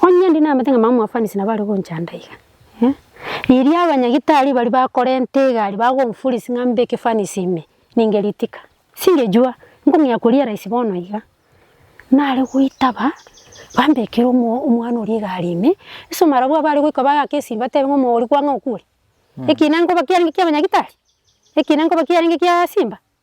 Onye ndi namate ng'a mama mwafanisi nabo are gonchanda iga, eh, riria abanyagitari baria bakorenta egari bagonforce ng'a mbe ekefanisi ime, ninge ritika, singejua, nkong'ea korealise bono iga. Nare goitaba, bambekera omo omwana oria egari ime, ase omorero bwabo are goika bagaka esimi batebe ng'a omogori kwang'e okure, ekina nkoba kiarenge kia abanyagitari? Ekina nkoba kiarenge kiaa simba?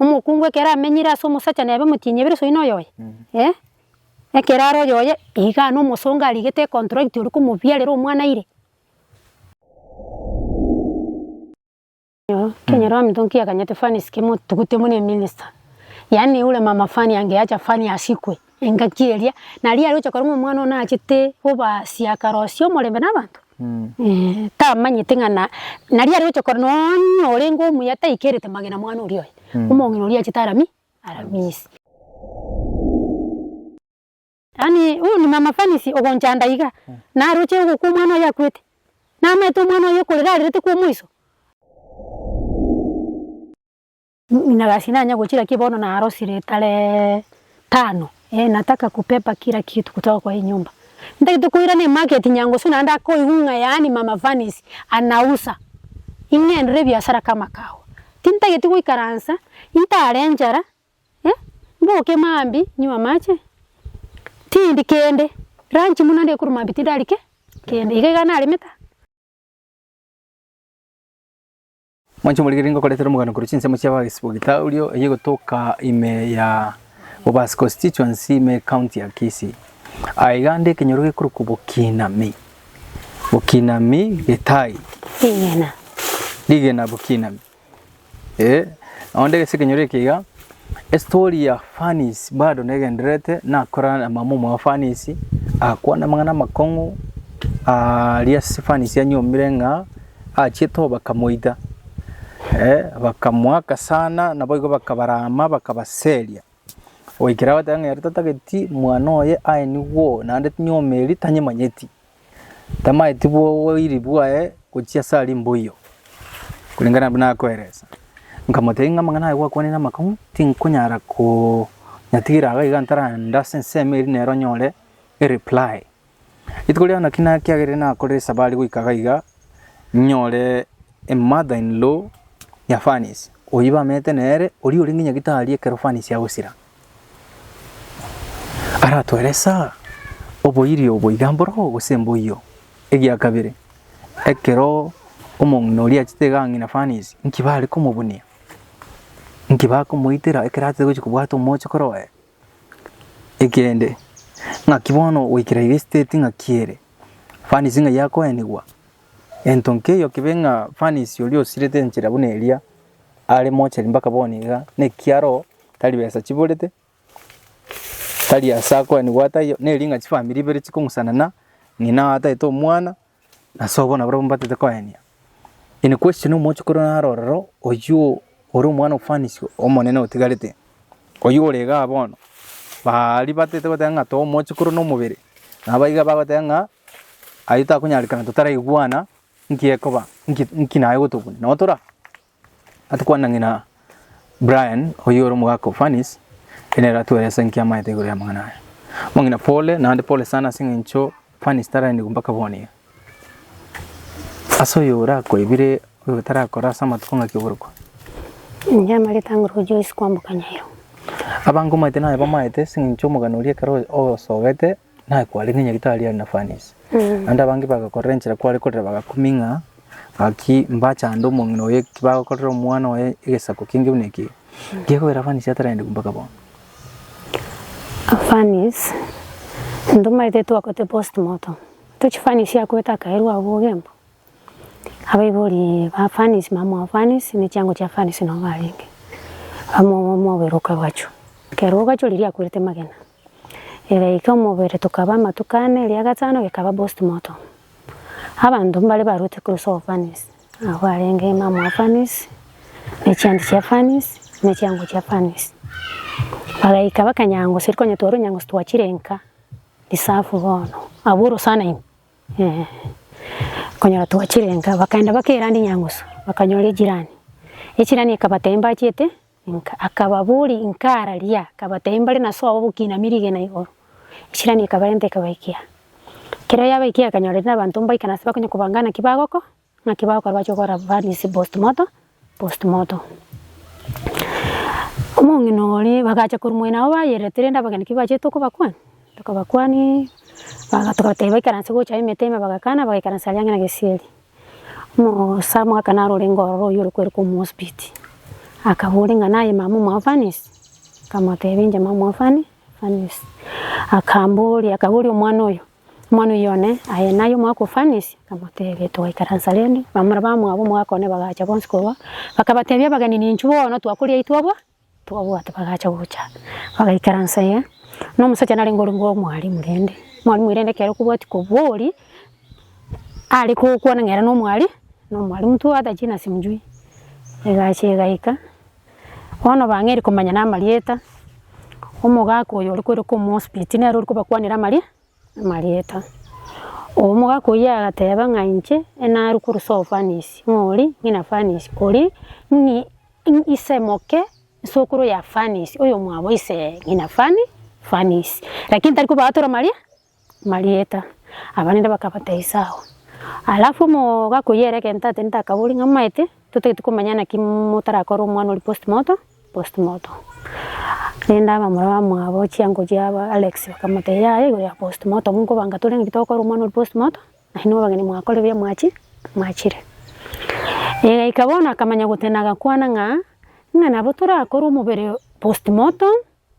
Omokungu ekero amenyire ase omosacha nebe motienyi ebere soino oyoye, eh, ekero are oyoye igaa na omosongo arigete econtract oria komobiarera omwana ire. Kenyoro amonto nkiaganyete Fanny sikemo tugute buna eminister, yaani ule mama Fanny angeacha Fanny asikwe. Engaki eria naria aroche korong'o omwana one achete obasia akarosia omorembe na abanto eh tamanyete ng'a na naria aroche koro nonya orenge omuya taikerete magena mwana oria oye omong'ina oria achete arami aramisie. Yaani huyu ni mama Fanisi ogonchanda iga naroche ogokwa omwana oye akwete namaete omwana oye okorera arerete kwa omoiso. Inagasi nanya gochira ki bono narosire tare tano? Ee, nataka kupepa kila kitu kutoka kwa hii nyumba. Ntagete koirana emarket nyango suna ande akoigwa ng'a yaani Mama Vanice anausa. Ing'endere ebiasara kama kago. Tintageti goikaransa, intare enchara, eh, mboke maambia nywe amache, tindi kende. Lunch buna ande ekorwa maambia tindari ki? Kende. Iga iga naremete aa. Mwanche omorigereria ngokoretera omogano korwa chinsemo chi'Abagesibogitaoria eyio egotoka ime ya Bobasi Constituency ime County ya Kisii. Aye iga ande ekenyoro gekorokwa Bokinami, Bokinami Gitaai. Rigena. Rigena Bokinami. Eh, onde gese ekenyoro eke iga. Estory ya Fanisi bado negendererete nakora na mama omoa Fanisi akwana amang'ana amakong'u aria ase Fanisi anyomire ng'a achiete obaka moita eh, bakamoaka sana naboigo bakabarama bakabaseria goikera agoteeba ng'a ere tatageti mwana oye aye nigo naende tinyomeri tanyemanyeti. Tamaeti bw'oboiri bwaye gochia ase aria mboiyo, koreng'ana nabwo nakoeresa. Nkamotebia ng'a amang'ana aye gwakwanire namakong'u, tinkonyara konyatigera iga iga ntarande ase ensemo eria nero nyore ereply. Rituko riao naki nakiagerire nakorire esabari goika iga iga, nyore emother in law ya Fanisi, oyio bamenyete nere, oria ore ng'a gitari ekero Fanisi agosira. Aratoeresa oboirio boiga mboroo gose mboiyo. Egia kabere, ekero omong'ina oria achete iga ng'ina furnace, inki bare komobunia? Inki bakomoitera ekero atete gochia kobwata omochokoro oye? Ekende, ng'aki bono goikera iga esiteti ng'aki ere? Furnace ng'ai yakoenigwa? Gento nkeiyo kibe ng'a furnace oria osirete enchera buna eria are mochari mpaka bono iga, nekiaro. tari besa chiborete, tari ase akoenigwa ataiyo, ne ring'a chifamiri ibere chikong'usanana, ng'ina oye atagete omwana, na sobo bono nabarabwo mbatagete koenia. In question omochi korwa naro ororo, oyio ore omwana ofaniswa omonene otigarete, oyio ore igaa bono, baa aria batagete goteba ng'a too omochi korwa na omobere, nabo iga bagoteba ng'a ayio takonyarekana totaraigwana nki ekoba, nki nki naye gotokwa. Nabo tora Atikwana ng'ina Brian, oyio ore omogaka o Furnace, ere nere atwere ase enki amaete igoro y'amang'ana aya. Omong'ina pole, naende pole sana ase eng'encho Furnace taraenigwe mpaka bono iga. Ase oyo orakore bire oyo otarakora ase amatuko ng'aki oborokwa? Inche amarita ang'e orwa Joyce kwamboka Nyairo. Abange omaete naye bamaete ase eng'encho omogani oria ekero o- osogete. Naye kware ng'a Nyagetari are na furnace. Naende abange bagakorera enchera kware korera bagakumia ng'a gaki mbachande omong'ina oye ki bagokorera omwana oye egesaku kenge buna eke. Gekogera furnace ataragende korwa mpaka bono. Furnace ntomaete twakote postmortem tochi furnace yakwete akairwa abwo ogemba. Abaibori ba furnace mama wa furnace ne chiango chia furnace nabo barenge. Amo mobere okagachwa. Ekero ogachwa riria akwerete magena. Ere eke omobere tokaba amatuko ane, eria gatano gekaba postmortem. Abanto mbare barwete korwa ase obofanisi, abwo arenge emama wa fanisi, ne chianti chia fanisi, ne chiango chia fanisi. Bagaika bakanyangoseria konya tware onyangosi twachire nka reserve bono, abwo orosana ime eeh. Okonyora twachire nka bakaenda bakeranda enyangoso, bakanyora echirani, echirani ekabatebia mbachiete Inka. Akababoria, Inka araria? Akabatebia, Mbare naso abo bokinami rigena igoro. Isirani ekabarenta ekabaikia. Ekero yabaikia ekanyora eria nabanto mbaikana ase bakonya kobanga naki bagoko naki bagokora bache gokora baris post morto post morto. Omong'ina oria bagacha korwa moino abwo bayerete rende abageni ki bachete okobakwa tokabakwania baga tokabatebia baikaranse gocha emete ime bagakana bagaikaransa aria ang'e na gesieri. Omosamu akana arorenga ororo oyio orokwerokwa Omosbiti, akabora ng'a naye mama omofanisi, nkamotebia inche mama omofani fanisi, akamboria akaboria omwana oyio, omwana oyio one aye naye omwaka ofanisi, nkamotebia togaikaransa rende, bamura bamwabo omwaka one bagacha bonsi korwa, bakabatebia abageni ninchuo bono twakoria aitwe abwo. Twabwate bagacha gocha, bagaikaransa ee, na omosacha narenge ore bwa omwalimu rende, omwalimu oyo rende ekero kobwati kobori, are gokwana ng'a ere na omwari na omwalimu tu hata jina simjui, egacha egaika, bono bang'eria komanya na amarieta, omogaka oyo ore korokwa omosubeti nere ore kobakwanera amarie amarieta. Obo omogaka oyio agateba ng'a inche enarwe korwa soe fanisi, ng'ori ng'ina fanisi, ori ng'i. Inki ise moke, isokoro ya Fanisi, oyomwabo ise ng'ina Fani, Fanisi, lakini tari kobaatora maria marieta. Abanene bakabateisa ao. Alafu omogakui ere egento atende akaboria ng'a maete, totagete komanya naki motarakore omwana oria postmorto, postmorto. Rende abamura bamwabo chiango chiabo Alex bakamoteia yaya igoro ya postmorto, monkobanga tore ng'aki tokore omwana oria postmorto, Aye nigo abageni mwakore ebiya mwachi mwachire. Egaika bono akamanya gotena agakwana ng'a ng'a nabo torakore omobere post mortom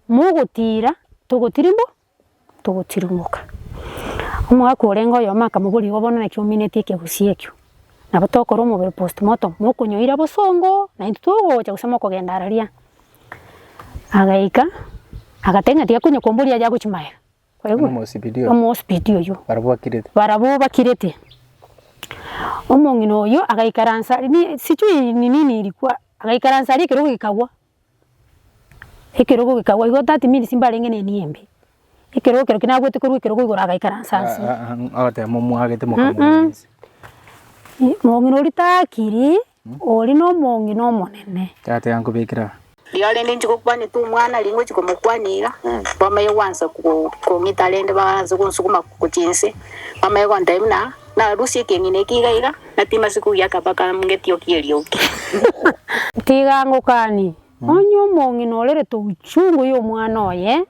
mogotira togotiri mbo togotirimboka. Omogaka orenge oyomo akamoboria igo bono naki omineti ekegusii ekio? Nabo tokore omobere post mortom mokonyoira bosongo naintwe togocha gose mokogenda araria. Agaika agateba ng'a tiga konye komboria yagochi magega. Oyomo omosibidi oyo. Omosibidi oyo. Barabwo bakirete. Barabwo bakirete. Omong'ina oyo agaikaransa ni sijui ni nini ilikuwa agaikaransa aria ekerogo gekagwa. Ekerogo gekagwa igo that means mbarenge ne nia embe. Ekerogo ekero kinabwete korwa ekerogo igoro agaikaransa nse. Agoteba momwagete mokamorisia. Mong'ina oria takiri. Oria nomong'ina omonene. Tata yankobekera. Riao rende inche gokwanete omwana aria ngochia komokwania iga, bamaye gwansa kong'ita rende baanse gonsuguma gochia inse, bamaye gontebia buna narusie ekeng'ina eke iga iga, na timase kogiaka mpaka ngetiokie eriogi. Tiga ngokanie, onye omong'ina orerete ochungu y'omwana oye,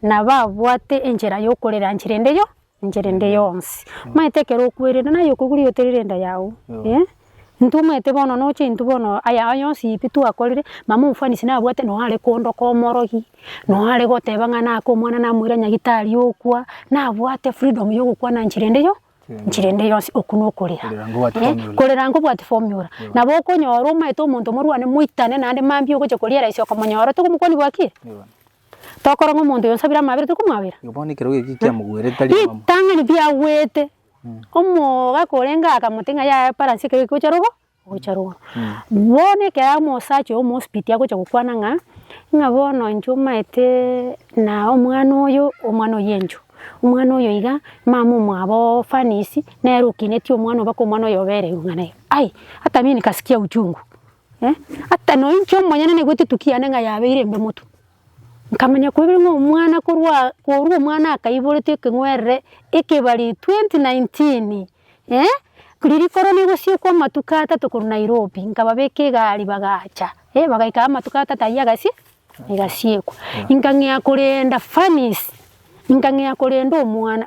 nabo abwate enchera y'okorera nchera ende yo, Enchera ende yonsi. Omanyete ekero okwerire naye okogure oterire enda yago eh intwe omanyete bono noche intwe bono aya aya yonsi pi twakorire mama omfanisi nabwate nonye are kondoka omorogi nonye are goteba ng'a nake omwana namoira nyagitari okwa nabwate freedom ya ogokwana nchera ende yo nchera ende yonsi okwo na okorera Korera ngobwate eh formula. korera ngobwati formula nabo okonyora omanyete omonto morwane moitane naende mambia ogocha koriera ase okomonyora tokomokwania bwa ki? Tokora ng'a omonto oyo onsabire amabera tori komwabera? Igo bono ekerogo eki kiamoguerete tari omomo. Ritang'ani biagwete, omogaka orenge akamotebi ng'a yaya eparansi ekero ekegocha rogo egocha rogoro. Bono ekero omosacha oyo omosibiti agocha gokwana ng'a ng'a bono inche omaetee na omwana oyo omwana oyo enchwe, omwana oyo iga, mama omwabo oo Fanisi nere okineti omwana oo mpaka omwana oyo obererwe ng'a naye. Ai, hata mimi nikasikia uchungu. Eh, ata noinche omonyene naigwete etukia yane ng'a yabeire embe motu. Nkamanya koebe ng'a omwana korwa aa korwa omwana akaiborete ekeng'werere ekebari twenty nineteen, eh, riria korwa negosiekwa amatuko atato korwa Nairobi, nkababeka egari bagacha, eh, bagaika amatuko atato ayio agasi egasiekwa. Inkang'ea korenda Fanisi, inkang'ea korenda omwana.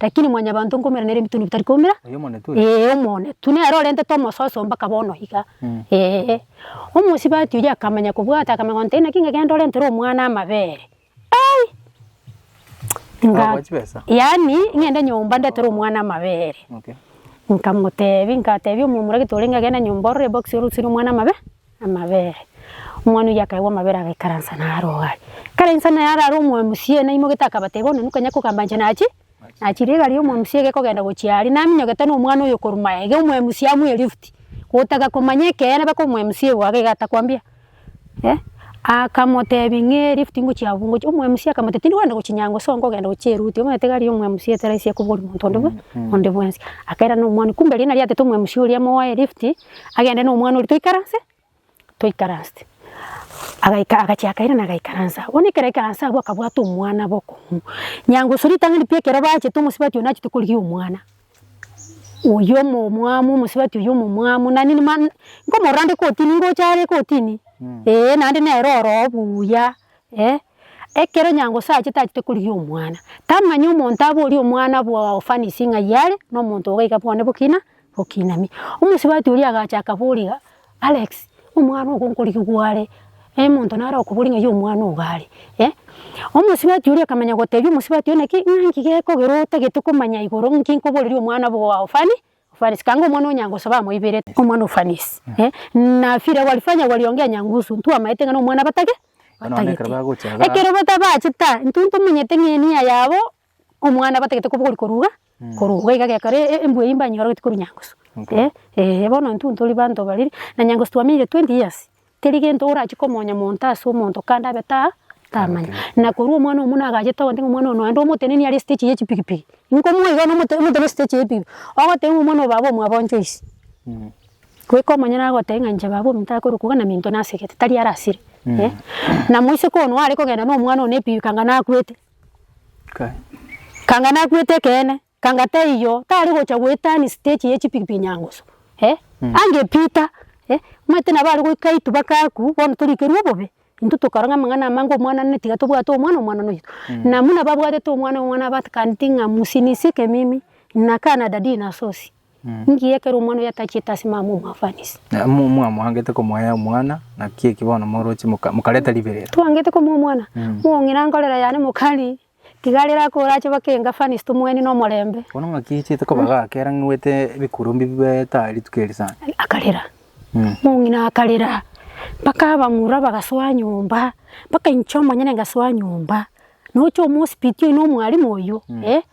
Lakini mwanyabanto nkoumera nere ebitunwa ebitari koumera ee omonetwe nere orentete omososo mpaka bono iga ee. Omosibati oyio akamanya kobwata akamanya kogoteba inaki inga genda orentere omwana amabere ai yaani ng'ende nyomba ndetere omwana amabere nkamotebia ngatebia omomura gete orenge agende nyomba orore ebokisi orutire omwana amabere. Amabere. Omwana oyio akaegwa amabere agaikaransa naro iga are. Akarainsa naro are omwamsie ere naimogete akabateba onde nokanya kogamba inche nachi nachire iga riria omwamsie gekogenda gochia aria naminyogete na omwana oyio korwa maega iga omwamsie amuye lift gotaka komanya ekeene baka omwamsie ogo agaiga atakwambia eh akamotebia ng'ee lift ngochia abwo ngochia omwamsie akamotebia tindi kogenda gochia nyango so nkogenda gochia eruti omanyete iga riria omwamsie etaraisi akobori monto onde bwensi akairana omwani kumbe riria nariatete omwamsie oria amoe lift. agende na omwana oria toikaranse, toikaranse. Agaika agachia akairana agaikaransa agwo, bono ekero aikaranse agwo akabwata omwana bokong'u. Nyangusu ritang'ani riria ekero bachete omosubati oyio nachete korigia omwana, oyio omo omwamu omosubati oyio omo omwamu nani ma nkomorora are kotini ngocha are kotini eh, naende nere oroo buya eh. Ekero nyangusu achete achete korigia omwana, tamanya omonto abori omwana bwa ofanisi ng'ai are, na omonto iga iga bwane bokina. Okinamia. Omosubati oria agacha akaboria iga, Alex, omwana ogo nkorigia gware, e monto nare okoboria ng'ai omwana ogo are, eh. Omosubati oria akamanya gotebia omosubati one ki, ng'a nki gekogera otagete komanya igoro nki nkoboreria omwana obo oa ofani ofanisi, kanga omwana onya ngosoba amoiberete omwana ofanisi, eh. Na vile walifanya waliongea nyangusu, ntwamaete ng'a na omwana batake, batagete. Ekero bata bachete aa, intwe ntomenyete ng'a enia yabo. omwana abatagete kobori koruga koruga iga gekora embwe eywo mbanyorogeti korwa nyangusu eh bono intwe tori banto bariri na nyangusu twamenyire twenty years teri gento orache komonya monto ase omonto kande abe ta tamanya na korwa omwana omwo nagachete ogoteba omwana oyo nonye omotenenio are stage ye chipigipigi nkomoa iga omotenenio stage ye chipigipigi ogoteba ng'a omwana oyo baba omwabo ncho isi goika omonyene agoteba ng'a inche baba ominto akorwa koba na minto nasegete tari arasire na moiseke one are kogenda na omwana one epikipiki anga nakwete Kanga nakwete ekeene, kanga taiyo, tari gocha goetani stage ye chipikipiki nyangusu, eh, ange Peter, eh, omanyete nabo are goika itu baka aku, bono torikerwa obobe, intwe tokora ng'a amang'ana amange omwana nene tiga tobwate omwana omwana noyo, na muna babwatete omwana omwana abatakaneti ng'a msinisie kemimi, nina kaa na dadii na sosi. Ninki ekero omwana oyo atachiete ase mama omwafanisi? Na mo- mo- mwangete komoea omwana, naki eki bono moroche moka- mokareta riberera. Twangete komoa omwana, Mm. mong'ina nkorera yane mokari, tiga rera ko orache bake engafanisi tomoeni nomorembe. Bono ng'aki echiete koba gake era ng'wete ebikurumbi bibeta rituko eri sana. Akarera, Mm. mong'ina akarera, mpaka abamura bagasoa nyomba, mpaka inche omonyene ngasoa nyomba, nocha omosibiti oyo na omwalimu oyo, eh.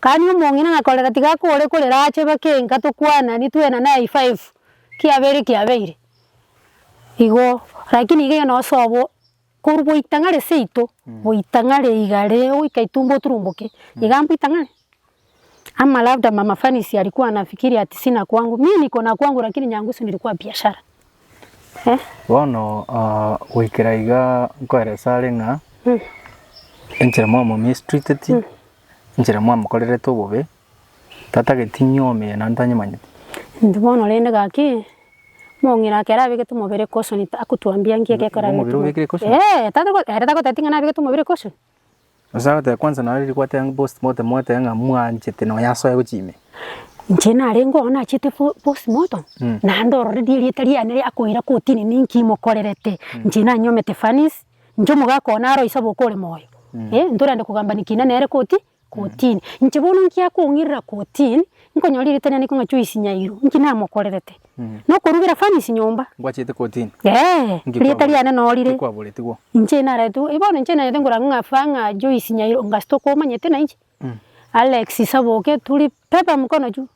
Kani omong'ina nakorera tiga kore korera ache bakenka tokwanani twena naye five kiabere kiabeire igo lakini iga iga osobo korwa goita ng'are seito goita ng'are igare goika itumbo oturumboke iga mbuita ng'are ama labda mama fanisi alikua anafikiri ati sina kwangu mi niko na kwangu lakini nyangu si nilikuwa biashara. Bono goikera iga nkoeresa are ng'a enchera mwamomistriteti, enchera mwamokorerete obobe, tatageti inywe omino naende tanyimanyeti. Intwe bono rende gaki, omong'ina ake ere abegete omobere caution akotuambia nki eke ekero abegete omobere. Omobere obekire caution? Eeh, tari ere tagoteba ng'a nabegete omobere caution. Gose agoteba kwansa naro riria gwateba ng'a post mortem ogoteba ng'a mwanchete na oyasoe gochia ime. Inche narenge oo nachiete po post mortem, naende ororerie erieta riane ria akoira kotini ninki mokorerete. Inche nanyomete fanis, inche omogaka oo naro oisabe oka ore moyo. Eh ntorende kogambani kina nere koti kotini. Inche bono inki akong'irera kotini, nkonyora erieta riane riko ng'a Joyce Nyairo, inki namokorerete? nokorugera fanice nyomba. Ngwachete kotini. Eeh, rieta riane noo rire. Ngikwaboretigwo. Inche naretwo, eh bono inche naete ngorang'e ng'a fa ng'a Joyce Nyairo onga stokobomanyete nainche. Alex Saboke turi pepa mkono juu.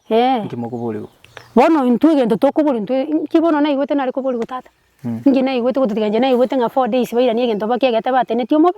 Eeh. Inki mokoborigwa? Bono intwe egento tokoborwa intwe, inki bono naigwete nare koborigwa tata? Inki naigwete gotiga inche naigwete ng'a four days bairanie egento bakiegete bateneti omobe?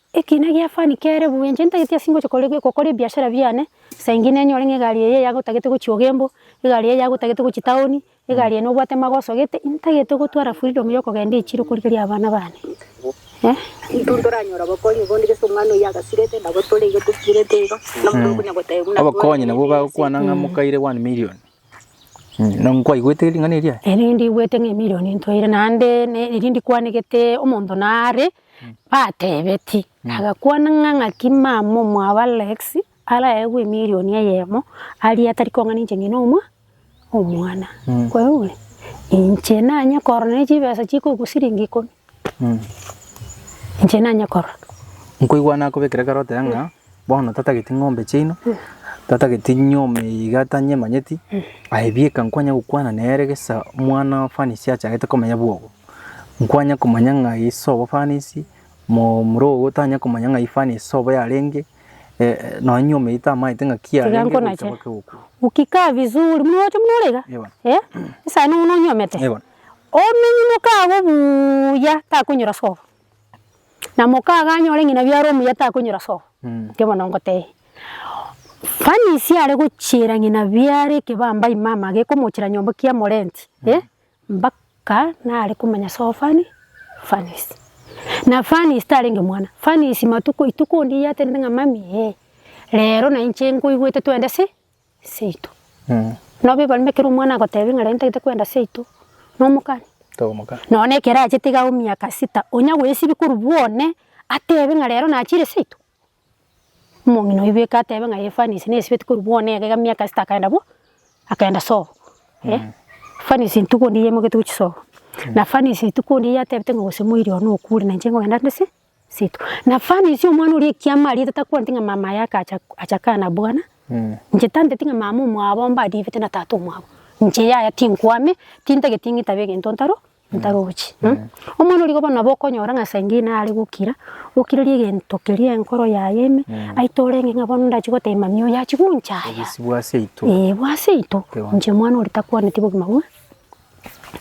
Ekiina gia fani kere buya, inche ntagete ase ngocha kore gokora ebiashara biane, saa ingine enyore ng'a egari eye yago otagete gochia ogembo, egari eye yago otagete gochia town, egari eye nobwate mago osogete, intagete gotwara freedom ya okogenda echiro korigereria abana bane eh. Intwe ntoranyora obokonyi bondi gese omwana oyio agasirete, nabo tore iga tosirete iga, na omonto okonya goteba buna Obokonyi nabwo bagokwana ng'a mokaire one million. Mm, na nkwaigwete ring'ana eria? Erio nindiigwete ng'a emilion ntoire naende ne- erio ndikwanegete omonto nare Batebeti, Nagakwana ng'a ng'aki mama omwabo Alex araegwe emilion eyemo aria atari kong'ana inche ng'ina omwa omwana. Kwerure? Inche nanye korora ne chibesa chikoigwa siringi ikomi. Inche nanye korora. Nkoigwa nakobekera ekero oteba ng'a Bono tatageti ng'ombe chiaino, tatageti nyoma eye iga tanyemanyeti, aye bieka nkwanya gokwana nere gesa omwana o Fanisi achagete komenya bwogo. Nkwanya komanya ng'a aye sobo Fanisi, mo- moro ogo tanya komanya ng'ai Fanisi sobo yarenge, nonye nyoma eye tamaete ng'aki Tiga yarenge gocha nkonache. mpaka egokwa. Ukikaa vizuri, muna ocha buna orega? Ewa. Eh? Esano buna onyomete? Ewa. Omenye moka agwo buuya, takonyora sobo. Na mokaga anyore ng'ina biaro omuya takonyora so, erio bono ngotebia. Fanisi are gochiera ng'ina biaro ekebamba ime amage ekomochera nyomba kia morenti eh, mbaka nare komanya so fani fanisi. Na fanisi tarenge mwana, fanisi matuko ituko onde yaterete ng'a mami eh, rero nainche nkoigwete twende si. seito. Nabo ebarima ekero omwana agotebia ng'a rero ntagete kwenda seito, nomokani? Tomoka. Nonya na ekero achete iga emiaka sita, onya goesibia korwa bwone atebe ng'a rero nachire seito? Omong'ina oibe eke atebe ng'a ee fanisi nesibeti korwa bwone iga emiaka sita akaenda bo, akaenda sobo. Eh, fanisi rituko ndiri yaimoketie gochia sobo, na fanisi rituko ndiri yatebete ng'a gose moiri one okure na inche nkogenda nde se, Setu. Na fani isi omwana oria ekiama ariete takwanti ng'a mama aye akacha acha kana bwana. Inche tanteti ng'a mama omwabo mbadiebete na tata omwabo. Inche yaya tinkwame, tintageti ng'itabe egento ntaro ntarochi. Omwana origo bono nabo okonyora ng'a saa ingine nare gokira, okirerie egento keria enkoro yaye ime, aito orenge ng'a bono ndachi gotebia mami oyo achi gonchaya. Obisi bwa seito. Ee bwa seito. Inche omwana oria takwaneti bogima bwa.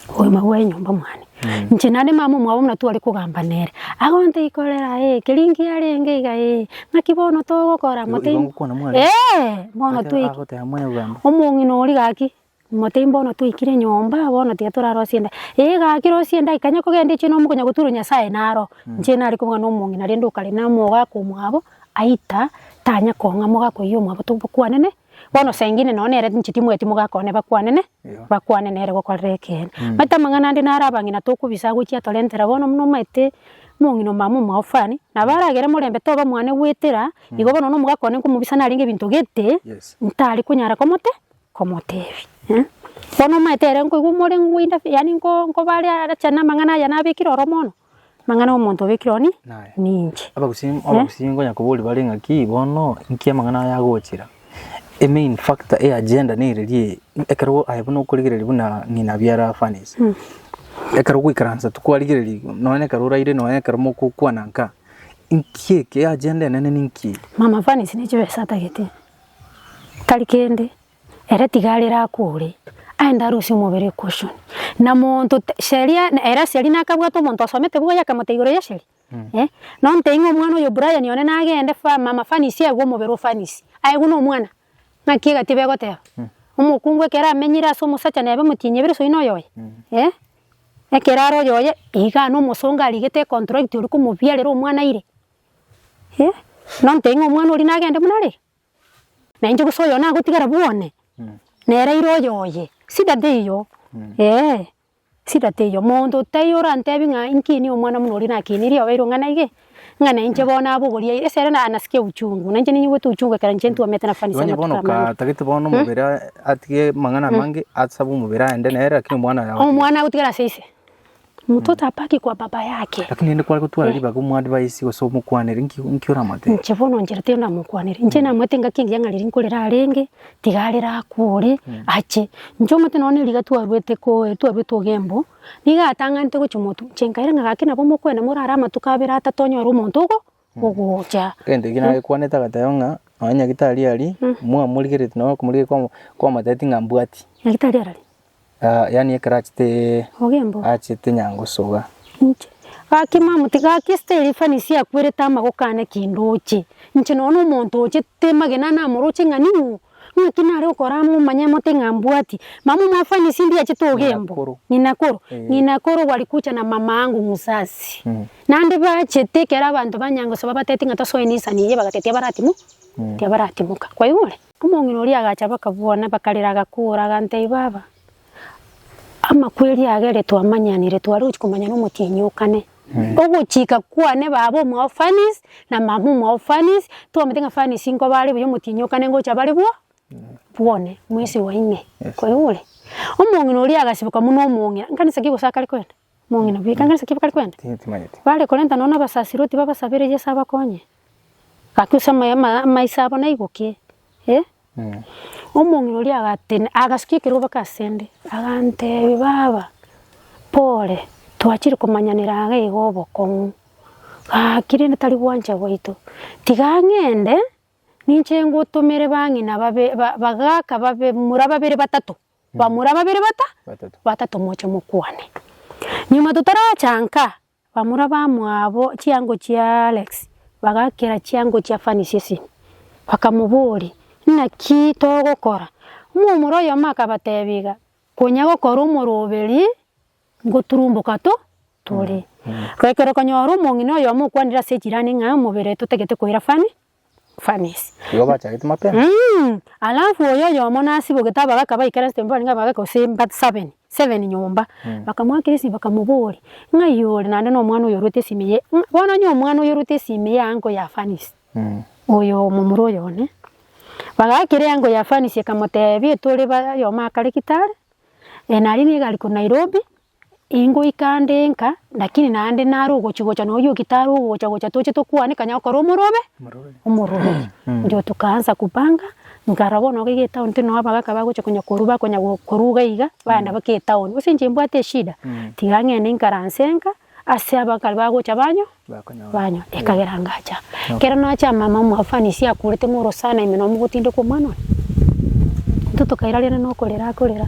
Obogima bw'enyomba mwane. Inche nare mama omwabo buna tware kogamba nere. Agontaki korera ee keria nki arenge iga ee. Naki bono togokora Igo- mote igo ngokwana mware? Eeh bono Ake- twaiki- agoteba mware kogamba. omong'ina oria gaki mote mbono twaikire nyomba bono tiga torarosie enda ee gaki rosie enda ikanya kogenda eche nomo konya goturwa Nyasaye naro. Inche nare kobuga na omong'ina rende okare na omogaka omwabo aita tanya kong'a mogaka oyio omwabo tobokwanene Bono sengine nonya nere inche timweti mogakone bakwanene bakwane nere gokorera ekeene. Omanyete amang'ana ande naro abang'ina tokobisa agochia atorentera bono buna omanyete omong'ina omama omoafani nabo aragere morembe toba mwane goetera igo bono nonya omogaka one nkomobisa narenge ebinto gete ntari konyara komote komotebia eh. Bono omanyete ere nkoigwa omoreng'u goinda yaani nko nkoba are arache na amang'ana aya nabekire oromo bono Amang'ana omonto obe kironi ninche. Abagusii abagusii ngonya kobori bare ng'a ki bono nki amang'ana aya agochera. E main factor e agenda nererie ekero aye buna okorigereria buna ng'ina biara furnace. Ekero gwaikaransa tikwarigereiri nonye na ekero oraire nonye na ekero mogokwana nka nki eke agenda enene ninki. Mama furnace ne chibesa atagete tari kende. Ere tiga arere akwore, aende arusie omobere o Kushoni. Na monto sheria, ere sheria nakabwate omonto osomete buya akamotebia igoro ye sheria, eh, nontebi ng'a omwana oyo Brian one nagende fa mama fanisi aigwe omobere o fanisi, aigwe na omwana, ng'aki egati ebe egoteba? Omokungu ekero amenyire ase omosacha neba emotienyi ebere soino oyoye, eh, ekero are oyoye iga na omosongo arigete econtract ori komobiarera omwana ire, eh, nontebi ng'a omwana oria nagende buna are iga. Na inche gose oyo nagotigara bwone, nere ira oye oye. Shida teiyo, eeh, shida teiyo. Monto tai orantebi ng'a inkinie omwana buna oria nakinirie obeirwe ng'a naige, ng'a na inche bono nabogoria ira, ase ere na nasikia uchungu. Na inche ninyigwete uchungu ekero inche ntwomete nafasi ase Onye bono amatuko amange. katagete bono omobere atige amang'ana amange asabe omobere aende nere lakini omwana aye agotigare. Omwana agotigara ase ise. Omonto tapaki kwa baba yake. Lakini rende kware gotwara ribaga omoadvaisi gose omokwanere, inki inki oramoete? Inche bono inche riria ndamokwanere, inche namoete engaki engiya ng'a riria nkorera arenge, tiga are rakwore, ache. Inche omanyete nonya riria twaruete koe twaruete ogembo, nigo atang'anete gochia omotu, inche nkaira ng'a gaki nabo mokoenda morare amatuko abere atato onyore omonto ogo. ogocha. Egento ekio nagekwanete agateba ng'a nonye Nyagetari aria mwamorigereti nonye okomorigereria kwamo kwamotebeti ng'a mbwati. Nyagetari arari? Aa yaani ekero achete Ogembo. achete nyangosoga. Inche, gaki mamotiki gaki esita eria efanisi akwerete amagokane kende oche, inche nonye na omonto oche temagena namoroche ng'a ning'o Ng'aki nare okoraa momanye mote ng'a mbwati mama omwafani ase ndiache togembo Ng'inakuru. ng'inakoro Eh. ng'inakoro walikucha na mama angu musasi Mm. nande bachete ekero abanto banyangosa babateti ng'a tosoe nisani eye bagate tiabaratimo tiabaratimoka kwaigure? Omong'ina oria agacha bakabwana bakarera agakora agantebia baba Amakweri aya ere twamanyanire twarochi komanya na omotienyi o kane. Ogochika kwane baba omwao Fanice na mama omwao Fanice twamate ng'a Fanice nkoba are buya omotienyi o kane ngocha bare bwo bwone mwezi wa ine. Koigure? Omong'ina oria agasiboka buna omong'ina. Nkanisa ki gose akare koenda? Bare korenta nonya abasasiroti babasabere Yeso abakonye, gaki ase amaiso abo naibokie. Omong'ina oria agatenena, agasukia ekerobeke ase 'nde, agantebia, Baba, pore, twachire komanyanera aa iga obokong'u, gaki rende tari gwancha gwaito. Tiga ng'ende ninche ngotomere bang'ina babe, ba, bagaka babe, mura babere batato, bamura babere bata batato moche mokwane. Nyuma totaracha nka, bamura bamwabo chiango chia Alex bagakera chiango chia Fanny chi'esimi, bakamoboria, Naki togokora? Omomura oyomo akabatebia iga, Konya gokora omoroberi ngoturumboka to tore. Goikera okonyora omong'ina oyomo okwanire ase echirani ng'a omobere totagete koira Fanny. furnace. Igo bachagete mapema. Eeh alafu oyo oyomo nasibogete aba gaka baikare nse mbabare ng'aba gaka gose mba seven seven nyomba bakamoakera esimi bakamoboria ng'a iye ore naende na omwana oyo orwete esimi eye ng'a bono onye omwana oyo orwete esimi ya uncle ya furnace oyo momura oyo one bagaakera euncle ya furnace ekamotebia tore ba oyomo akare gitari naria nigo ari korwa Nairobi Ingoika ande enka, lakini naende nare ogochia gocha nonya oyoki tare ogocha gocha toche tokwaneka onye okore omorobe, omoroberi. Inchuo tokaansa kupanga, nkarora bono iga iga etown tiri noo abagaka bagochia konya korwa bakonya go korwa iga iga, baenda mpaka etown. Gose inche mbwate eshida, tiga ng'ende inkaranse enka, ase abakare bagocha banyo Banywa, ekagera ngacha. Ekero nacha mama omoafanisi akurete ng'a orosana ime nomogotindeka omwana one. Intwe tokairariana na okorera akorera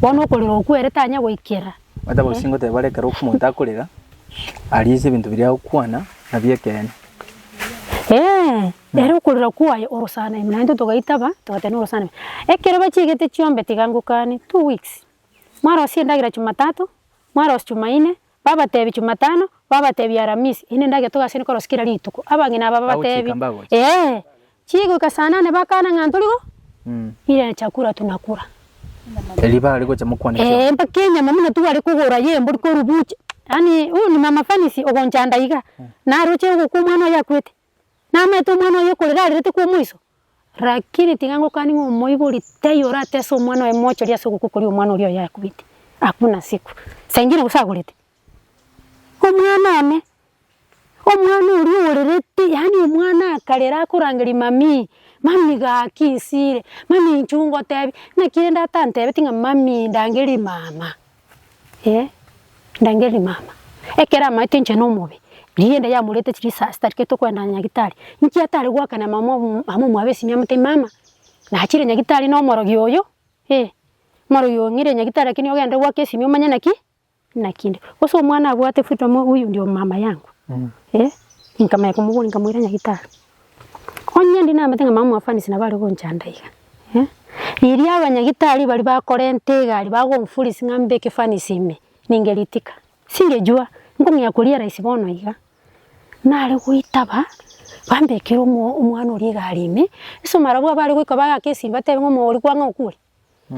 bono okorera okwo ere tanya goikera. Omanyete gose ngoteba are ekero omonto akorera aria ase ebinto biria agokwana nabio ekeene. Eeh, ere okorera kwaye orosana ime naintwe togaitaba togateba norosana ime. Ekero bachiegete chiombe tiga ngokane, two weeks. Mwarosie endagera Jumatatu, mwarosia Jumaine, Babateebia Chumatano, babateebia Aramisi, inde ndagete togasiane korosia kera rituko. Abang'ina aba babateebia. Agochika mbagocha. Ee, chigoika saa nane bakana ng'a ntori go, ire chakula tunakula. Erio bare gocha mokwane Ee, chiombe. mpaka enyama buna tware kogora y'embori korwa bucha. Yaani, huyu ni mama Fanisi ogonchanda iga, naroche ogokwa omwana oye akwete. Namaete omwana oye okorera arerete kwa omoiso, rakini tiga ngokani ng'a omoibori taiyo oratese omwana oye mochori ase ogokwa koria omwana oria oye akubete, hakuna siku, saa ingine gose agorete. Omwana one, omwana oria orerete yaani omwana akarera akorangeria mamii, mami gaki nsiire, mami inchuo ngotebi, naki rende atantebetie ng'a mami ndangerie mama. Ee, ndangeri mama. Ekero amaete inche na omobe, rigienda yamorete chiri saa sita rikere tokoenda nyagitari, inki atare goakana mama omu mama omwabo esimi amotebi mama, nachire nyagitari na omorogi oyo, ee, omorogi oyo ng'ire nyagitari lakini ogende goaka esimi omanye naki naki inde. Bosa omwana abwate freedom huyu ndio mama yangu, ee, inkamanya komoboria nkamoira nyagitari. Onye ndi namanyete ng'a mama mwafanisi nabo are gonchanda iga, eh, riria abanyagitari baria bakorenta egari bagonfurisi ng'a mbe ekefanisi ime, ninge ritika, singejua, nkong'ea koria raisi bono iga. Nare goitaba, bambekere omo omwana oria egari ime, ase omarabwo abwo bare goika bagaka esinyo batebe ng'a omoyo oria kwang'a okwore,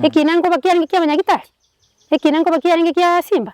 ekina nkoba kiarenge kia abanyagitari? Ekina nkoba kiarenge kia simba?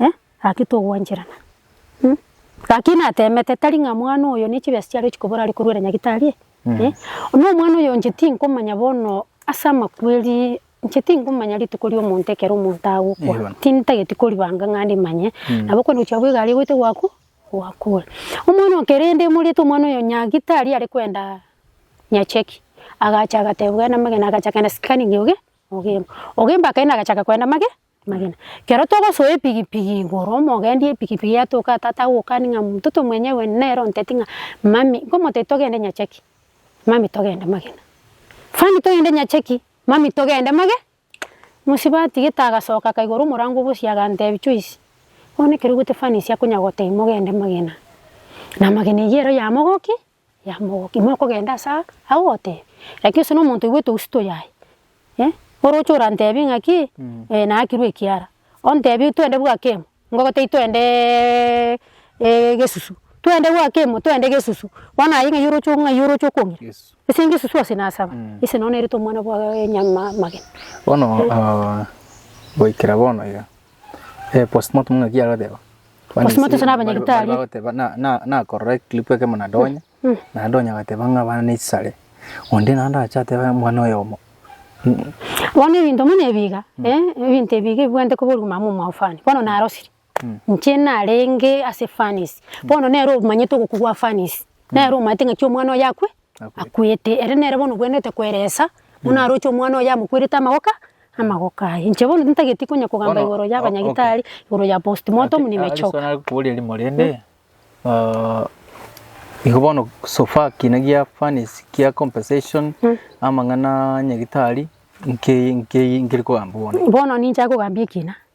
eh gaki togwancherana eh gaki natemete tari ng'a mwana oyo ne chibesa chiare chikobora are korwera nyagetari eh eh na omwana oyo inche tinkomanya bono ase amakweri inche tinkomanya rituko ria omonto ekero omonto agokwa Eeh bono. tintageti koribanga ng'a nde manye nabo okonywa gochia bwa egari egoite gwaku gwakure. Omwana oyo kere nde morete omwana oyo nyagitari are kwenda nyacheki agacha agateba bwena amagena agacha kogenda scanning oge ogemba ogemba akaenda agachaka kogenda mage. Amagena. Ekero togosoa epigipigi igoro, omogendi epigipigi atoka tata agokani ng'a mtoto mwenyewe nere onteti ng'a mummy nkomoteti togende nyacheki, mummy togende magena. Funny togende nyacheki, mummy togende mage mosibaa atigete agasoka akaigora omorango bosie agantebi Joyce, bono ekero oigwete funny ase akonya gotebia mogende magena. Na amagena eyio ero yamogokia, yamogokia. Mokogenda ase aa agwo goteba, lakini ase nomonto oigwete ousito yaye, eh, oroche orantebie ng'a ki, eh naakirwe ekiara, ontebie twende bwakemo, ngobe tai twendeeee egesusu, twende bwakemo, twende egesusu, bono aye ng'ai oroche ng'ai oroche okong'ira? Yesu. Ase ngesusu ase nasaba, ase nao nerete omwana bwa nyama amagena. Bono goikera bono iga, eh postmortem ng'aki agoteba. Gose motesana abanyagitari. Bagoteba na, na, nakorora eclip ekemo nadonya, nadonya agateba ng'a abana nechisare. Onde naende agacha ateba omwana oyomo. Bono ebinto buna ebi iga, eh, ebinto ebi iga ebibwenerete koba origima amo omwao fani. Bono narosire, inche narenge ase fanies, bono nere omanyete ogokwa gwa fanies, nere omanyete ng'aki omwana oyo akwe. Akwete, ere nere bono obwenerete kweresa, buna aroche omwana oye amokwerete amagoka amagoka aye. Inche bono tintageti konya kogamba Bono, igoro ya o- ok. abanyagitari, igoro ya postmortem, nimechoka. Ase nakoboria rimo rende, ah, igo bono so far kiina gia furnace kia compensation amang'ana a nyagitari, nki nki nkeri kogamba bono? Bono ninche agogambia ekina,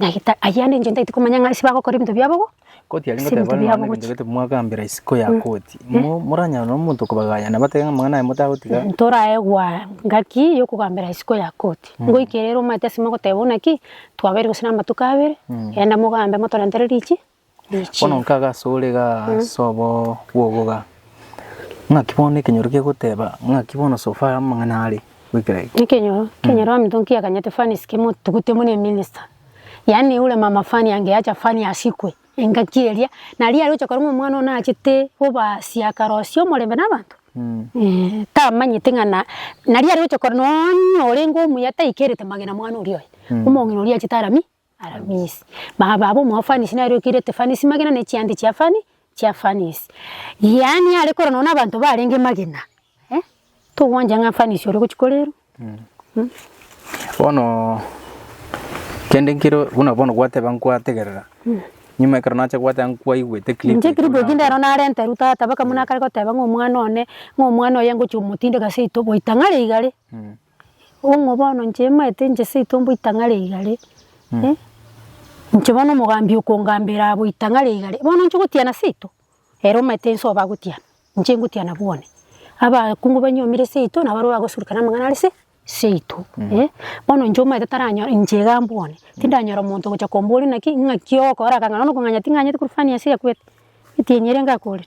Nyagetari, ayia nenche ntaiti komanya ng'a ase bagokora ebinto biabo bo. Koti aria ngoteba nonye na ebinto gete mwagambera isiko ya koti, mo moranyare nonye omonto kobaganya na batebe ng'a amang'ana aye motagotiga. Ntorae gwaa ngaki yokogambera isiko ya koti. Ngoike rero omanyete ase mogoteba buna ki, twabeire gose na amatuko abere, genda mogambe motorentere richi. Bono nkaga asore iga ase obogogoga, ng'aki bono na ekenyoro kegoteba, ng'aki bono so far amang'ana are goikera eke. Ekenyoro, ekenyoro amonto nkiakanyete fani sike motugute buna eminister. Yaani ore mama fani ange yacha fani asikwe, engaki eria, naria aroche korwa ng'a omwana one achete obasia akarosia omorembe na abanto? Eeh, tamanyete ng'a na, naria aroche korwa nonya orenge omuya taikerete magena mwana oria oye, omong'ina oria achete aramie. Aramis. Baba abo omoafanisi nare okeire Tefanesi magena ne chiande chia Afani chia Afanisi. Yaani are korwa nonya nabanto barenge magena eh togwancha ng'a Afanisi ore gochia korerwa mm. Bono kende nkero buna bono gwateba nkwategerera nyuma ekero nacha gwateba nkwaigwete clip Inche clip eki ndero narenterwa tata baka buna akare goteba ng'a omwana one ng'a omwana oye ngochia omotindeka seito goita ng'are igare. Ong'o bono inche omoete inche seito mboitang'are igare, eh, inche bono omogambi okongambera abo itang'are igare, bono inche ogotiana seito? Ere omanyete ense obo agotiana, inche ngotiana bwane. Abaakungu banyiomire seito nabo abarabwo bagosureka na amang'ana are se seito, eh. Bono inche omanyete taranyo inche iga mbwane, tindanyora omonto ogocha komboria naki ng'aki ogokora aka ng'a nokong'anya ting'anyeti korwa fani ase ekogete, etienyi ere ngakorire.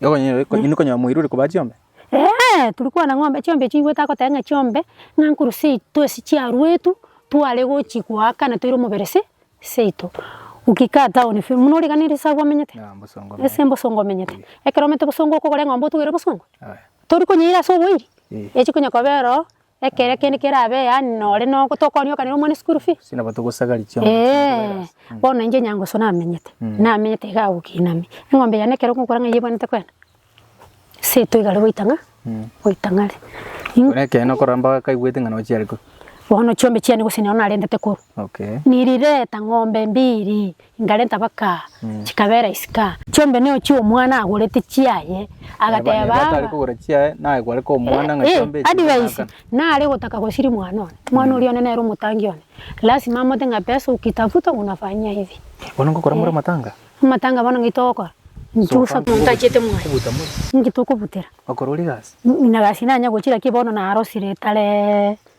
Nokonyora moiri ore kobaa chiombe? Eeh, turi kwana ng'a chiombe echi nigo tagoteba ng'a chiombe ng'a nkorwa seito ase chiaruetu tware gochia goakana toire omobere se seito. Ukikaa town fiu, buna origaneirie ase agwo omenyete? Ase embosongo omenyete. Ekero omanyete bosongo okogora eng'ombe otugere bosongo? Tori konyeira ase oboiri? Echi konya kobera oo Ekero kende kerabe yaani nore no tokonyokanera omwana eschool fee. Gose nabo togosagaria chiombe chinde Eeh, korera ase. Mm. bono inche Nyangusu namenyete, Mm. namenyete iga agwo Kiinami. Eng'ombe yane ekero ngokora ng'a yebwanete kwenda, seito igare goita ng'a, Mm. goita ng'are. Ingo- Buna ekero nokorora mbobe kaigwete ng'a nochiare korwa. bono chiombe chiane gose nero narentete korwa. Okay. Nirireta ng'ombe mbiri, inkarenta baka, chikabera isika. Chiombe neo chia omwana agorete chiaye, agateba Neba aba. tari kogora chiaye, naye kwareka omwana ng'a Eh, chiombe echi advice, ng'aka. nare gotaka gosiria mwana one, mwana oria one nere omotangi one, lasima amote ng'a pesa ukitafuta unafanyia hivi. Bono ngokora more amatanga? Amatanga bono ng'ai togokora? Nchusa Sofa. monto achiete mwaye. Kobuta more. Inki tokobutera? Okora oria egasi? Ina gasi nanya gochira ki bono narosire etare.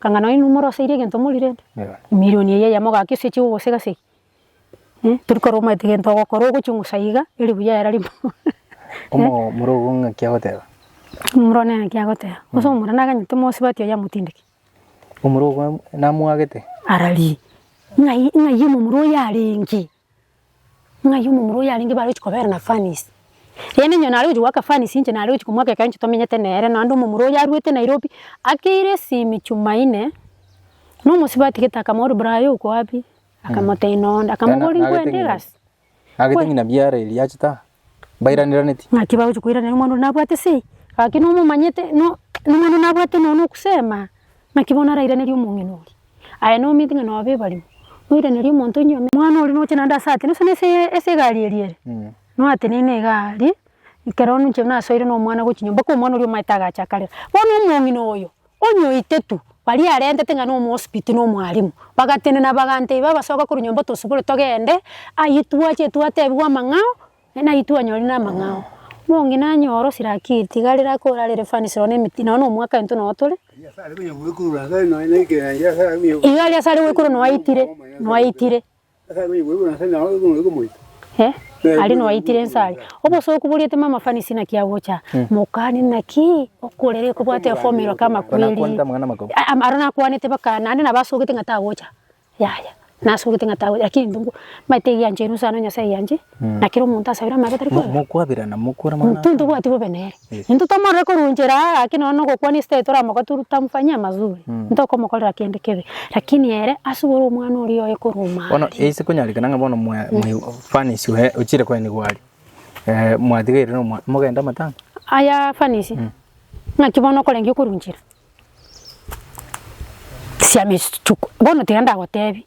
Ekanga nonye inwe moroseirie egento morirente, emirioni eye eyemo gaki ase echigo gose gase ki? Tori korwa omanyete egento ogokora ogochungusa iga, eri buya era rimo. Omomura ogo ng'aki agoteba? Omomura one ng'aki agoteba? Gose omomura naganyete mosubati oye amotindeke? Omomura ogo namwagete? Ararie. Ng'ai ng'ai omomura oyo arenge? Ng'ai omomura oyo arenge bare gochia kobera na furnace? Rende inche nare gochia goaka furnace inche nare gochia komoaka ekero inche tomenyete nere naende omomura oyo arwete Nairobi. Akeire esimi Jumaine, na omosibwa atigete akamoboria Brayo oko wabi? Akamotebia nonde. Akamobori nkwende egasi. Agete ng'ina biara eria achete aa. mbairaneraneti. Naki bagochia koiranera omwana oria nabwate sei, gaki nomomanyete no nomwana oria nabwate nonya nogusema, naki bono arairanerie omong'ina oria. Aye nomanyete ng'a noba ebarimo, noiranerie omonto onye ome omwana oria noche naende ase atene gose ase ase egari eria ere, noateneine egari, ekero ninche nasoire na omwana gochia nyomba, mpaka omwana oria omanyete agacha akarera. Bono omong'ina oyo. Onye oitetu, baria arentete ng'a nomosibiti na omwalimu, bagatenena bagantebia, Abasoga korwa nyomba tosibore togende, ayio twache etwo atebigwe amang'ao, na ayio twanyorire namang'ao. Monge nanyore osirakiri, tiga rere akore are refanis nonya emiti nonya nomwaka intwe nonya tore, iga aria asare goikurwa nonya aitire, nonya aitire. Aria noaitire inse aria, obosa okuboriete mama Fanny sina ki agocha, mokane naki okorera ekobwate efomero ka amakweri. Aro nakwanete baka naende nabo asogete ng'a tagocha, yaya nasogete ng'a tagocha lakini intwe mbaete egiancha inwe nse ano Nyasae egianche, na kera omonto asabire amabera tari kwegwa. Intwe ntobwati bobe nere. Intwe tomorore koruonchera aa, gaki nonya nogokwania esitari toramoka tu tamfanyia mazuri, ntokomokorera kende kebe, lakini ere asubore omwana oria oye korwa Bono omare. ase konyarekana ng'a bono mwa- mwa- furnace oye ochire koenigwa aria, eh, mwatigeire nomwa mogende amatanga? Aya furnace, ng'aki bono okorengia okoruonchera? Tisiama esuchuko, bono tiga ndagotebi.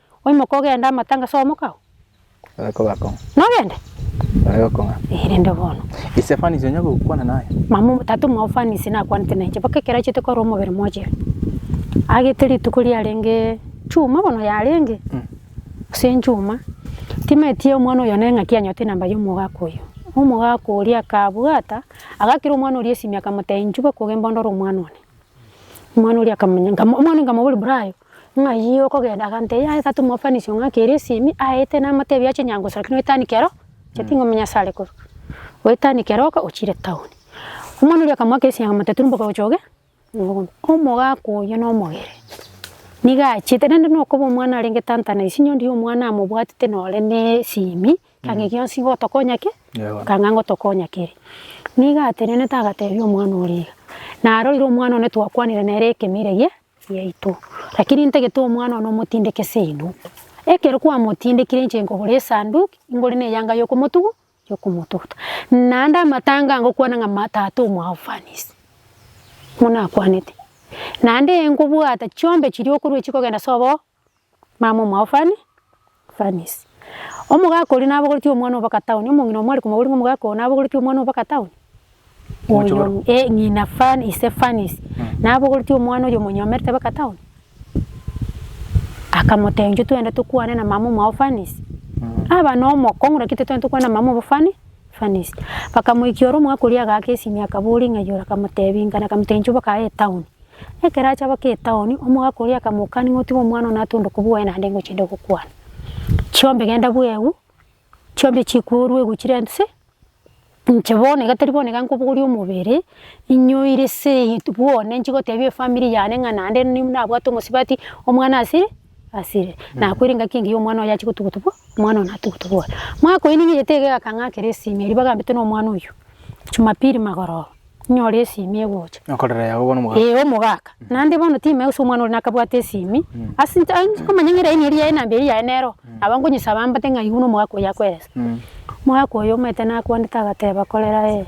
Oimoke ogende amatanga ase omoka oo. Baria kogakong'a. Nogende? Baria gokong'a. Ee, rende bono. Ise Fanisi onya gokwana naye. Mama omo, tata omwao Fanisi nakwanete nainche mpaka ekero achiete korwa omobere mochire. Agete rituko riarenge chuma bono yarenge ase enchuma. Timaeti omwana oyo naye ng'aki anyote enamba ya omogaka oyo. Omogaka oria akabwata, agakera omwana oria esimi akamotebia inchuba koga embondo ore omwana one. Omwana oria akamanya, omwana nkamoboria bra aye Ng'ai okogenda agantebia, Yaya tata omofanisio ng'a ake ere esimi aete namotebi ache nyangoso lakini oetani kero inche tingomenya ase are korwa. Oetani kero oka ochire town. Omwana oria akamoaka esegi akamotebia tari mboka gocha oge ogobe. Omogaka oyio na omogere niga achiete rende nokoba omwana arenge tanta na isinyo ondiya omwana amobwatete nore na esimi ekero gionsi ngotokonya ki? Ekanga ngotokonya kere. Niga atenenete agatebia omwana oria iga. Narorire omwana one twakwanire nere ekemire gie. yaito, lakini ntagete omwana one omotindeke seino. Ekero kwamotindekire inche nkogora esanduki ingore ne eyanga yokomotugu yokomotuguta. Naende amatanga ngokwana ng'a ma tata omwao fanisie, buna akwanete. Naende nkobwata chiombe chiria okorua chikogenda sobo Mama omwao Fanny, Fanny's, omogaka oria nabogoretie omwana oo mpaka town, omong'ina omware komoboria ng'a omogaka oo nabogoretie omwana oo mpaka town? Omochi Oyo boro. eh ng'ina Fanny ise Fanny's, nabogoretie omwana oyo omonyomerete mpaka town? Akamotebia inche twende tokwane na mama omwao Fanny's. Aba na omokong'u naki titwendi tokwana na mama obo Fanny, Bakamoikia ore omwaka oria agaaka esimi akaboria ng'a igoro akamoteebia inga na akamoteebia inche oboke aye etown. Ekero acha boke etown omogaka oria akamokani ng'a otige omwana one atonde kobua oye naende ingochi inde gokwana. Chiombe genda bwegu chiombe chikwe orue egu chire nse inche bono iga tari bono iga nkobogoria omobere inyoire se bwone nchigoteebia efamiri yane ng'a naende nabwate omosubati omwana ase asire, nakoire engaki engiya omwana oye achie gotugutubwa, omwana oye natugutubwa ore. Mwakoini ng'a eyete iga egakang'akera esimi erio bagambete na omwana oyio, Jumapili magorooba, nyore esimi egocha. Okorera yago bono omogaka. Ee omogaka, naende bono timae gose omwana oria nakabwate esimi, ase inche ain nkomanya ng'a eraini eria yaye namba eria yaye nero, nabo nkonyesaba mbate ng'a aigwe na omogaka oyio akweresa. Mogaka oyio omanyete nakwanete agateba korera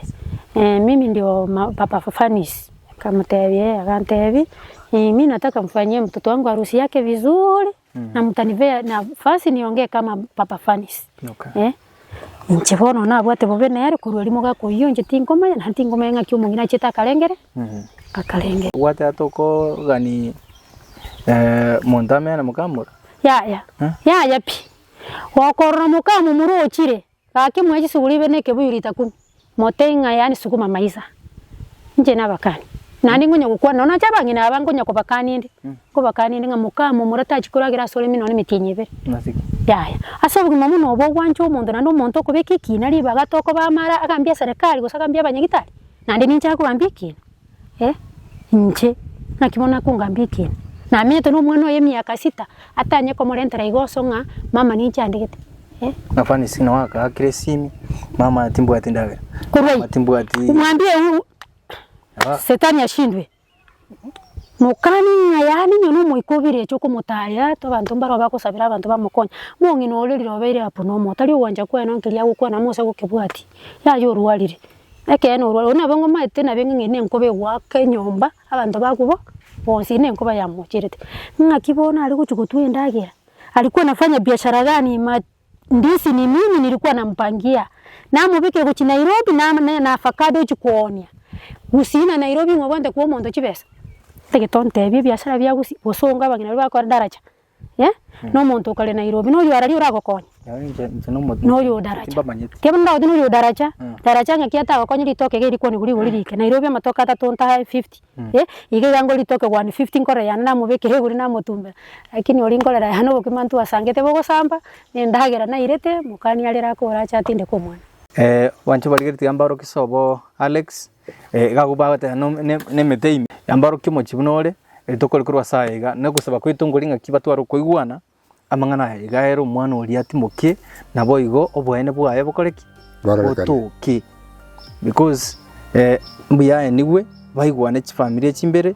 ee, mimi ndio ma- papa Fafanis. Nkamotebia ee, agantebia ee, mi nataka mfanyie mtoto wangu harusi yake vizuri na mtanipea nafasi niongee kama papa Fanisi. Okay. Eh, inche bono nabwate bobe nere korwa rimo gakoyia inche tinkomanya na tinkomanya ng'aki omong'ina achete akarengere akarengere. Obwate ata okogani eh, monto amenye na mokamura? Yaya, Eh? yaya pi. Gokorora mokamomura ochire, Gaki mwaye chisuguru ibere nekebuyu rita kumi, motebie ng'a yaani sukuma maisa, inche nabakani. Naende ngonya gokwana nonya nache abang'ina aba ngonya kobakani inde, nkobakani inde ng'a moka amo omura tachi koragera asore ime nonya emetienyi ebere. Yaya. Ase obogima buna obo ogwancha omonto naende omonto okobeka ekina ribaga tokoba amara agambie eserekari gose agambie abanyagitari, naende ninche agokambia ekina. Eh, inche? Naki bono akongambia ekiina? Namenyete nomwana oye emiaka sita, atanye komorentera iga oso ng'a mama ninche andegete? Eh. Ng'a Fanisi nao akaakire esimi, Mama, timbwati endagera. Korwa Mama, ayio, timbwati. mwambie ewu, Naba- setani ashindwe. Mokani ng'a yaani nyone omoika obeire eche okomotaaria ata abanto mbare bagosabera abanto bamokonye. Mong'ina oria riroba ere apo nomo, tari ogwancha kwaye nonkiria agokwana amo ase gokebwati, yaye orwarire. Ekeene orware oria nabo ngomaete nabo enga ng'ende nenkoba egoaka enyomba abanto bakwo bo bonsi ere nenkoba yamocherete. Ng'aki bono are gochia gotwa endagera, alikuwa anafanya biashara gani ma ndizi ni mingi nilikuwa nampangia, namobeka egochia Nairobi nam ne na avacado ochia koonia, gusii na Nairobi ng'obwate kwa omonto chibesa? Egento ntebie ebiashara bia gusii gose onga abang'ina baria bakore daraja. eh, na omonto okare Nairobi, noyo araria oragokonya? Yaani inche inche na omotienyi. Noyo odaracha. Timbamanyeti. Kero ndagoteba noyo odaracha, Mm. daracha ng'aki atagokonye ritoke iga erikwo nigo rigori rike. Nairobi amatoke atato ntae fifty, eh, iga iga ngore ritoke one fifty nkore yane namobekera igoro namotumbera. Lakini oria nkorera yane obokima intwe asangete bogosamba, na endagera nairete, mokania arere akore ache atindeke omwana. Abanto barigeretie ambaro kisobo Alex, Iga abwo bagoteba no- ne- nemete ime, yamborokia omochie buna ore, rituko ere korwa as'aya iga, na ogosaba kwaito nkori ng'aki batware okoigwana amang'ana aya iga ere omwana oria atimoke, naboigo oboene bwaye bokore ki? Bororekane. Botoke, because mbuya aye nigwe baigwane chifamiri echimbere.